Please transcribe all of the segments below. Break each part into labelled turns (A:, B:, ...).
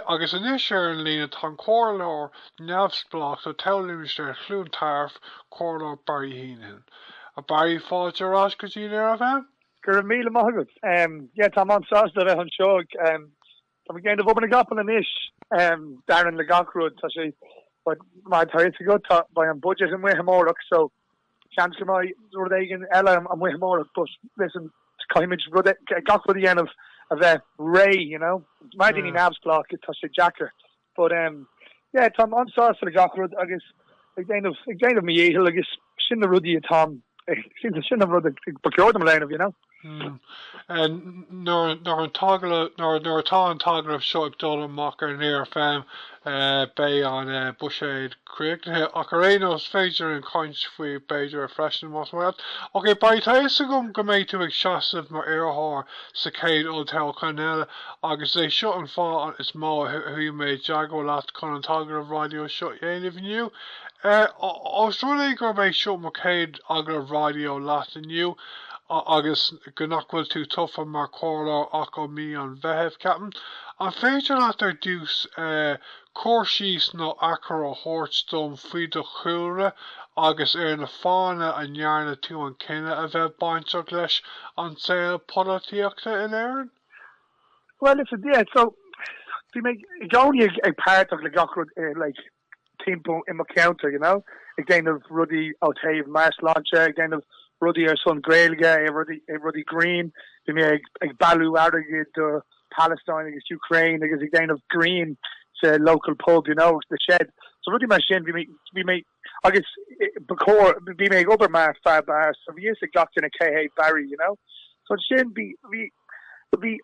A: Agus anois ar an líne tá an Comhairleoir neamhspleách do toghlimistéar Chluain Tarbh, Comhairleoir Barry Heneghan. A Barry, fáilte ar ais go dtí Near FM! Go raibh míle maith agat. Yeah, táim an-sásta a bheith anseo. Táim ag déanamh obair na gcapall anois. Dearnan le gach rud. Tá sé, mar atá a fhios agat, beidh an budget amuigh amárach, so. Seans go mbeidh rud éigin eile amuigh amárach but listen, caithfidh muid gach rud a dhéanamh a bheith réidh, you know. Mar duine neamhspleách tá sé deacair but em yeah táim an-sásta le gach rud agus ag déanamh ag déanamh mo dhícheall agus sin na rudaí atáim sin an rud ba chóir dom a dhéanamh, you know. Nuair atá an t-agallamh seo ag dul amach ar Near FM beidh an buiséad críochnaithe ach ar aon nós is féidir linn caint faoi b'fhéidir freisin más maith leat. Ok, beidh tá fhios agam go mbeidh tú ag seasamh mar iarrthóir sa chéad olltoghchán eile agus is é seo an fáth is mó a chuaigh mé i dteagmháil leat chun an t-agallamh raidió seo a dhéanamh inniu. Ós rud é gurb é seo mo chéad agallamh raidió leat inniu, agus go nach bhfuil tú tofa mar chomhairleoir ach ó mí an Mheithimh, ceapaim, an féidir leat ar dtús cur síos nó achoimre a thabhairt dom faoi do chúlra agus ar na fáthanna a ndearna tú an cinneadh a bheith bainteach leis an saol polaitíochta in Éirinn? Bhuel, is, yeah, so, bhí mé i gcónaí ag páirteach le gach rud i like, timpeall i mo cheantar, you know, ag déanamh rudaí ó thaobh meabhairshláinte, ag déanamh rudaí ar son Gaeilge, rudaí, rudaí grinn, bhí mé ag, ag bailiú airgid do Palestine agus Ukraine agus ag déanamh grinn sa local pub, you know, sa Sheds, so rudaí mar sin, bhí mé, bhí mé, agus ba chóir, bhí mé ag obair mar fear beáir, so bhí fhios ag gach duine cé hé Barry, you know, so ansin bhí, bhí. Bhí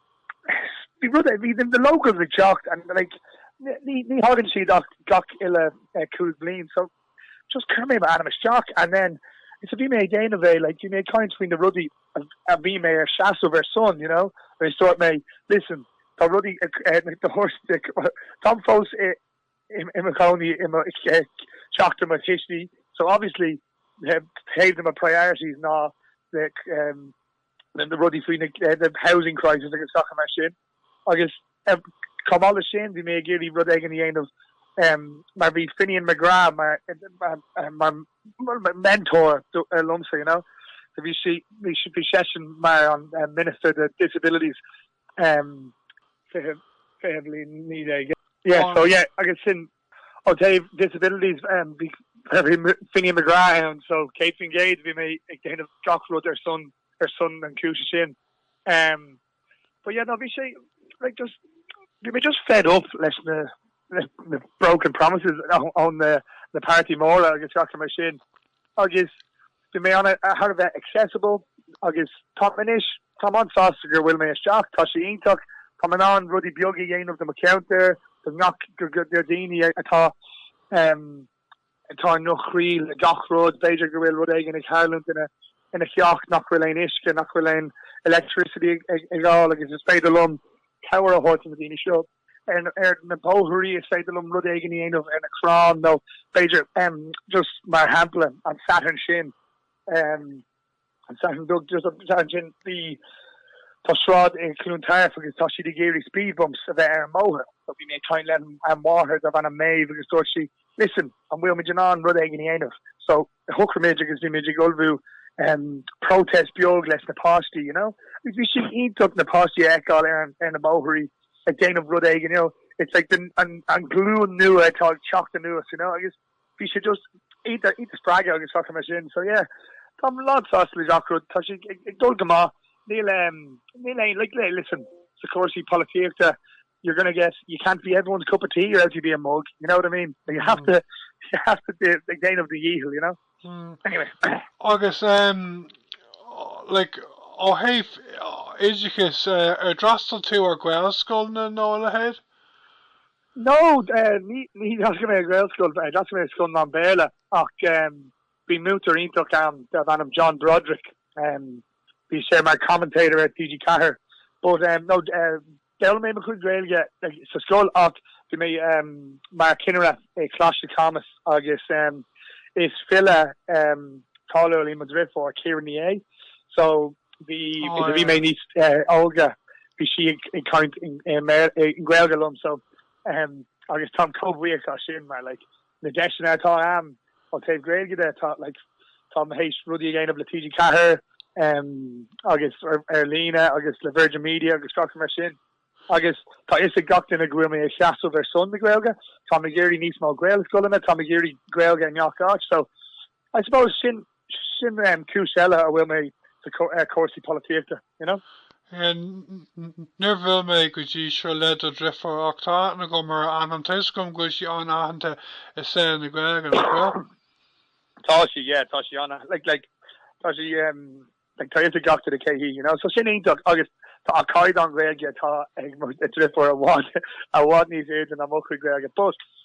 A: bhí rud é, bhí na locals ag teacht and like ní ní thagann siad ach gach uile chúig bhliain so just chuir mé m'ainm isteach and then is a bhí mé ag déanamh é like bhí mé ag caint faoi na rudaí a bhí mé ar seasamh ar son you know agus dúirt mé listen tá rudaí na hurst táim fós i i mo chónaí i dteach mo thuistí so obviously taobh de mo priorities ná na rudaí faoi na, the housing crisis agus sacair mar sin agus chomh maith le sin bhí mé ag iarraidh rud éigin a dhéanamh mar bhí Finian McGrath mar mar mentor liomsa you know so bhí sí bhí seisean mar an minister de disabilities fiche fiche bhliain naoi déag yeah so yeah agus sin Ó thaobh disabilities de, bhí Finian McGrath ann so 100% bhí mé ag déanamh gach rud ar son ar son an chúis sin. But yeah no obviously just bhí mé just fed up leis na na broken promises ón na na páirtí móra agus gach rud mar sin agus Bhí mé an- thar a bheith accessible agus táim anois. Táim an-sásta go bhfuil mé isteach, tá sé iontach. Táim in ann rudaí beaga a dhéanamh do mo cheantar, do ngach, do dhaoine atá i gcruachás le gach rud. B'fhéidir go bhfuil rud éigin ag tharlúint ina theach nach bhfuil aon uisce, nach bhfuil aon electricity ar fáil agus is féidir liom cabhair a thabhairt do na daoine seo. ar na páirceanna, is féidir liom rud éigin a dhéanamh ar na crann, nó b'fhéidir, just mar shampla, an Satharn sin, an Satharn seo caite, just an Satharn sin, bhí, tá sráid i gCluain Tarbh agus tá siad ag iarraidh speed bumps a bheith ar an mbóthar, so bhí mé ag caint le an máthair darb ainm Maeve agus dúirt sí, listen, an bhfuil muid in ann rud éigin a dhéanamh? So. shocraíomar agus bhí muid ag ullmhú protest beag leis na páistí you know agus bhí sé iontach na páistí a fheiceáil ar ar na bóithrí ag déanamh rud éigin you know it's like an an ghlúin nua atá ag teacht anuas you know agus bhí sé just iontach iontach spreagadh agus gach rud mar sin so yeah táim lán sásta le gach rud tá sé ag dul go maith níl níl aon like listen sa chúrsaí polaitíochta you're gonna get, you can't be everyone's cup of tea, or else you'd be a mug, you know what I mean? Like you have to, you have to be ag déanamh do dhícheall, you know? Anyway. Agus, like, ó thaobh oideachais, ar d'fhreastail tú ar Ghaelscoil nó coláiste? No, ní d'fhreastail mé ar Ghaelscoil, d'fhreastail mé ar scoil mheán Béarla ach bhí múinteoir iontach ann darb ainm John Broderick, bhí sé mar commentator ar TG4 but no, D'fhoghlaim mé mo chuid Gaeilge sa scoil ach bhí mé mar chinnire i Choláiste Chamuis agus is file cáiliúil í mo dhriofúr, Ciara Ní É, so bhí, nuair a bhí mé níos óige bhí sí ag caint i nGaeilge liom so agus táim chomh buíoch as sin mar like, na deiseanna atá a'm ó taobh Gaeilge de tá like tá mé tar éis rudaí a dhéanamh le TG4 em agus ar ar líne agus le Virgin Media agus gach rud mar sin agus tá fhios ag gach duine go bhfuil mé ag seasamh ar son na Gaeilge tá mé ag iarraidh níos mó Gaelscoileanna tá mé ag iarraidh Gaeilge i ngach áit so I suppose sin Sin cúis eile a bhfuil mé i gcúrsaí polaitíochta, you know. Níor bhuail mé go dtí seo le do dhriofúr ach tá aithne agam ar a hainm. Tá 'fhios agam go bhfuil sí an-aitheanta i saol na Gaeilge, nach bhfuil? Tá sí, yeah, tá sí an-aitheanta, like, tá sí, em, like, tá 'fhios ag gach duine cé hí, you know, so sin iontach agus tá an caighdeán Gaeilge atá ag mo dhriofúr i bhfad, i bhfad níos airde ná mo chuid Gaeilge but,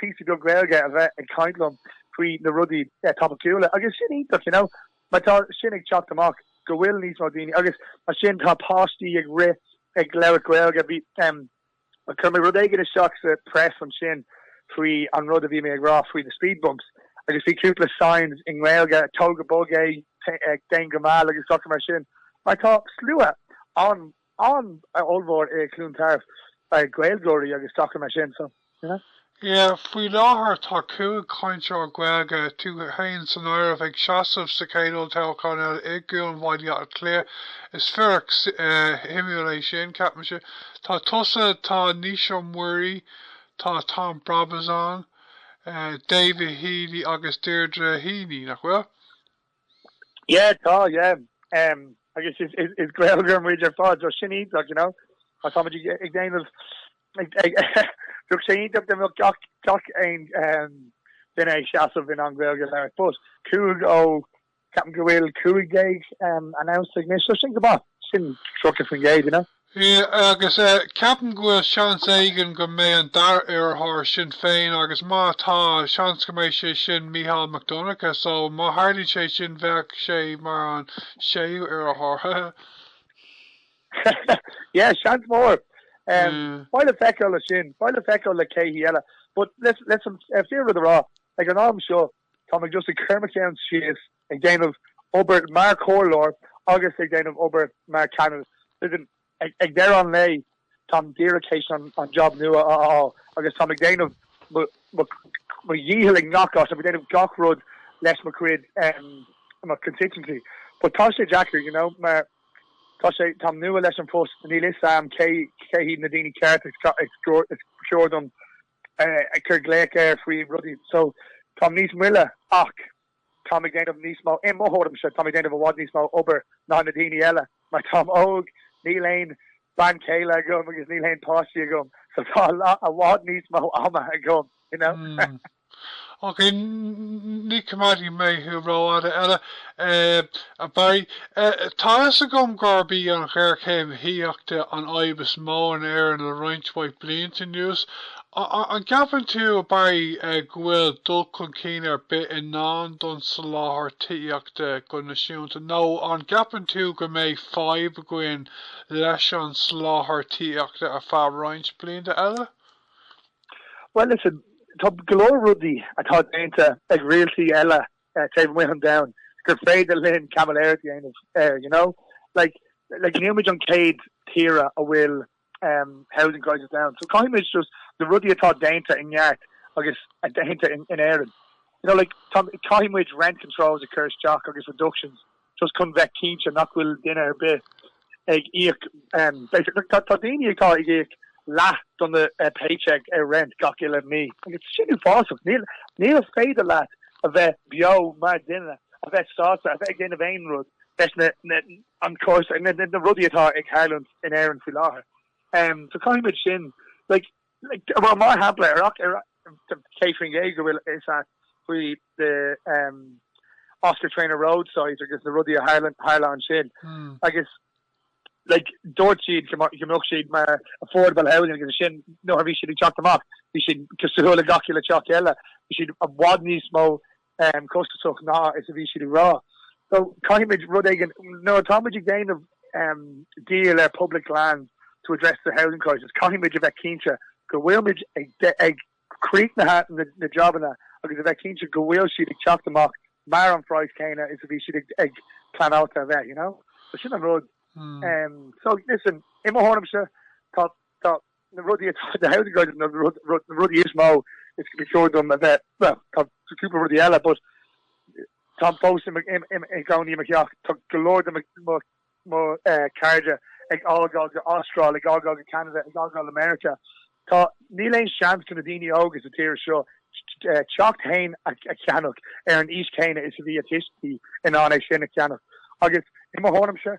A: píosa beag Gaeilge a bheith ag caint liom faoi na rudaí topaiceúla agus sin iontach, you know, mar tá sin ag teacht amach go bhfuil níos mó daoine agus mar sin tá páistí ag rith ag labhairt Gaeilge, bhí, em, chuir mé rud éigin isteach sa press ansin faoi an rud a bhí mé ag rá faoi na speed bumps agus bhí cúpla signs i nGaeilge, tóg go bog é, déan go mall agus gach rud mar sin mar tá slua an An-ollmhór i gCluain Tarbh ag Gaeilgeoirí agus gach rud mar sin, so, you know. Yeah, faoi láthair tá cúig chainteoir Gaeilge, tú fhéin san áireamh, ag seasamh sa chéad olltoghchán eile i gCuan Bhaile Átha Cliath. Is fíric shuimiúil é sin, ceapaimse. Tá tusa, tá Naoise Mhuirí, tá Tom Brabazon, David Healy agus Deirdre Heney, nach bhfuil? Yeah tá yeah um agus is is is gaeilgeoir muid ar fad so sin iontach you know ach tá muid ag déanamh ag ag bheadh sé iontach dá mbeadh gach gach aon um duine ag seasamh in ann gaeilge a labhairt but cúig ó ceapaim go bhfuil cúig déag um announced ag anois so sin go maith sin tríocha faoin gcéad you know. Sea, agus ceapaim go bhfuil seans éigin go mbeidh an dara iarrthóir ag Sinn Féin, agus má tá, seans go mbeidh sé sin Mícheál Mac Donncha, so má tharlaíonn sé sin bheadh sé mar an séú iarrthóir. Yeah, seans mór. Beidh le feiceáil le sin, beidh le feiceáil le cé hí eile. But listen, fíor rud a rá, ag an am seo, Tá mé just ag cur mo cheann síos, ag déanamh obair mar chomhairleoir agus ag déanamh obair mar cheannaire. Listen, ag deireadh an lae, táim díreach tar éis an jab nua a fháil agus táim ag déanamh mo dhícheall i ngach áit, táim ag déanamh gach rud leis mo chuid, mo constituency. But tá sé deacair, you know, mar tá sé, táim nua leis an phost, níl 'fhios a'm cé hiad na daoine cearta is cóir dom a chur glaoch air faoi rudaí so táim níos moille ach táim ag déanamh níos mó, i mo thuairimse, táim ag déanamh i bhfad níos mó obair ná na daoine eile mar táim óg, níl aon bean chéile agam agus níl aon páistí agam so tá i bhfad níos mó ama agam, you know. Ok, ní choimeádfaidh mé thú rófhada eile, a Barry. Tá a fhios agam gurb í an ghéarchéim thithíochta an fhadhb is mó in Éirinn le roinnt mhaith blianta anuas. An gceapann tú, a Barry, go bhfuil dul chun cinn ar bith i ndán don soláthar tithíochta go naisiúnta, nó an gceapann tú go mbeidh fadhb againn leis an soláthar tithíochta ar feadh roinnt blianta eile? Well, listen, tá go leor rudaí atá déanta ag rialtais eile taobh amuigh an domhain gur féidir linn caimiléireacht a dhéanamh air, you know? Like, like níl muid an céad tíre a bhfuil em, housing crisis ann, so caithfidh muid just na rudaí atá déanta i gceart agus a déanta in Éirinn, you know, like tá, caithfidh muid rent controls a chur isteach agus reductions, just chun bheith cinnte nach bhfuil duine ar bith ag íoc basically tá daoine atá ag íoc leath de na paycheck ar rent gach uile mhí agus sin uafásach níl níl féidir leat a bheith beo mar duine a bheith sásta a bheith ag déanamh aon rud leis na na an crisis na na rudaí atá ag tharlúint in Éirinn faoi láthair so caithfidh muid sin like Bhuel, mar shampla, ar each, ar céad faoin gcéad go bhfuil a fhios agat faoi the Oscar Traynor Road site agus na rudaí a tharla ansin agus like dúirt siad go mbeadh siad mar affordable housing agus ansin nuair a bhí siad ag teacht amach bhí siad cosúil le gach uile teach eile, bhí siad i bhfad níos mó costasach ná is a bhí siad ag rá. So caithfimid rud éigin, nuair atá muid ag déanamh deal ar public lands to address the housing crisis, caithfidh muid a bheith cinnte go bhfuil muid ag críochnaithe na jabanna agus a bheith cinnte go bhfuil siad ag teacht amach mar an praghas céanna is a bhí siad ag pleanáilte a bheith, you know? So sin an rud. So listen, i mo thuairimse, tá na rudaí atá na how to guide na rudaí is mó is go mba chóir dom a bheith bhuel tá cúpla rudaí eile but táim fós i i gcónaí i mo theach tá go leor de mo mo cairde ag fágáil go Astráil ag fágáil go Ceanada ag fágáil go Meiriceá tá níl aon seans do na daoine óga sa tír seo teach fhéin a cheannach ar an aois chéanna is a bhí a dtuistí in ann é sin a cheannach agus i mo thuairimse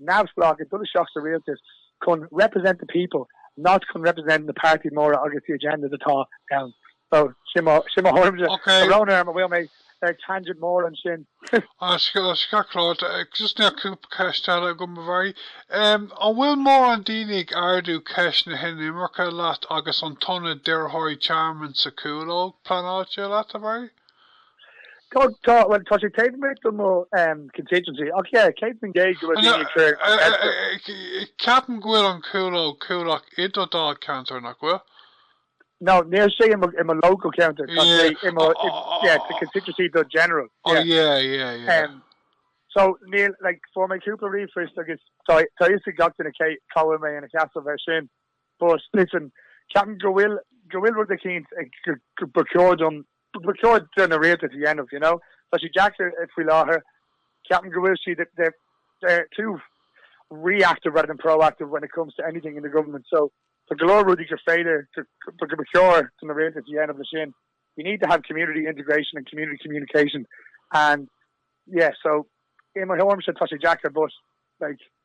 A: neamhspleách ag dul isteach sa rialtas chun represent the people not chun represent na páirtí móra agus the agendas atá ann. So sin mo sin mo thuairim de. Ok. Tá brón orm an bhfuil mé ar tangent mór ansin? Tá sé go breá, just níl cúpla ceist eile agam a Mhary. An bhfuil mórán daoine ag ardú ceist na hinimirce leat agus an t-ionad d'iarrthóirí tearmainn sa Chúlóg pleanáilte leat a Mhary? Tá, tá, bhuel, tá sé taobh amuigh de mo constituency ach yeah, céad faoin gcéad go bhfuil daoine ag cur an ceist air. Ceapaim go bhfuil an Chúlóg Coolock i do dháilcheantar, nach bhfuil? No, níl sé i mo local ceantar, tá sé i mo, yeah, sa constituency do general, yeah. Oh yeah, yeah, yeah. So, níl, like, fuair mé cúpla ríomhphoist agus tá, tá a fhios ag gach duine cé, cá bhfuil mé ina sheasamh air sin. But, listen, ceapaim go bhfuil, go bhfuil rud eicínt ag, go, go, ba chóir dom ba chóir do na rialtais a dhéanamh, you know. Tá sé deacair faoi láthair, ceapaim go bhfuil siad, they're too reactive rather than proactive when it comes to anything in the government so tá go leor rudaí go féidir go ba chóir do na rialtais a dhéanamh le sin. You need to have community integration and community communication and yeah so i mo thuairm se tá sé deacair but like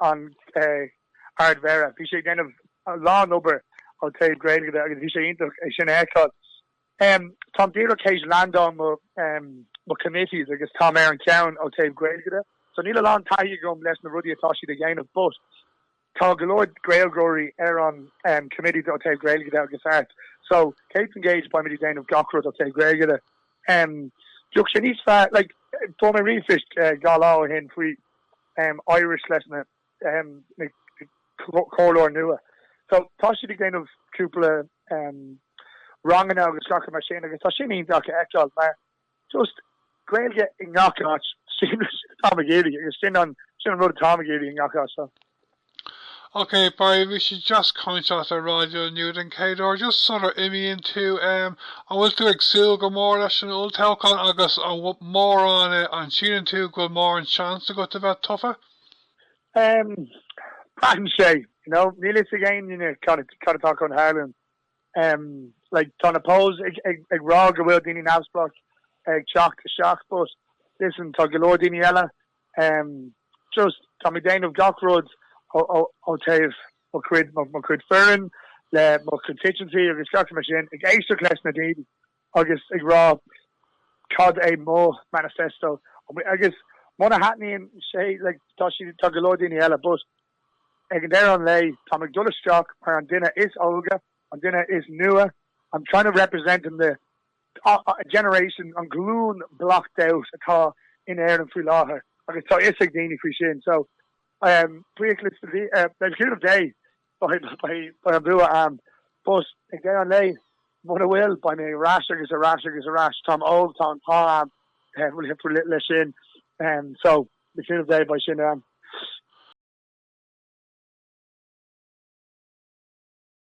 A: an Ardmhéara. Bhí sé ag déanamh a lán obair ó taobh Gaeilge de agus bhí sé iontach é sin a fheiceáil. Táim díreach théis leaindeáil mo mo committees agus táim ar an cheann ó taobh Gaeilge de so níl a lán taithí agam leis na rudaí atá siad ag déanamh but tá go leor Gaeilgeoirí ar an committees ó taobh Gaeilge de agus Art so céad faoin gcéad beimid ag déanamh gach rud ó taobh Gaeilge de. Bheadh sé níos fearr like fuair mé ríomhphoist dhá lá ó shin faoi um Irish leis na um na comhairleoir nua so tá siad ag déanamh cúpla um ranganna agus gach mar sin agus tá sin iontach a fheiceáil mar just Gaeilge i ngach áit sin tá mé ag iarraidh agus sin an sin an rud atá mé ag iarraidh i ngach áit so. Okay, bhí sé deas caint leat ar raidió inniu den chéad uair, just sula n-imíonn tú, em, an bhfuil tú ag súil go mór leis an olltoghchán agus an mórán eh, an síleann tú go bhfuil mórán seans agat a bheith tofa? Em, braitheann sé, you know, níl 'fhios ag aon duine cad a, cad atá chun tharlúint. Em, like, tá na polls ag, ag, ag rá go bhfuil daoine neamhspleách ag teacht isteach but, listen, tá go leor daoine eile just tá mé ag déanamh gach rud ó taobh mo chuid mo chuid foireann le mo constituency agus gach mar sin ag éisteacht leis na daoine agus ag rá cad é mo manifesto agus muna thaitníonn sé le tá si tá go leor daoine eile but ag an deireadh an lae tá mé ag dul isteach mar an duine is óige an duine is nua I'm trying to represent in the a generation an ghlúin locked out atá in Éirinn faoi láthair agus tá fhios ag daoine faoi sin so um le cúnamh Dé beidh beidh beidh an bua um but ag deireadh an lae mura bhfuil beidh mé ar ais agus ar ais agus ar ais táim óg tá an t-ádh a'm um leis sin um so le cúnamh Dé beidh sin um.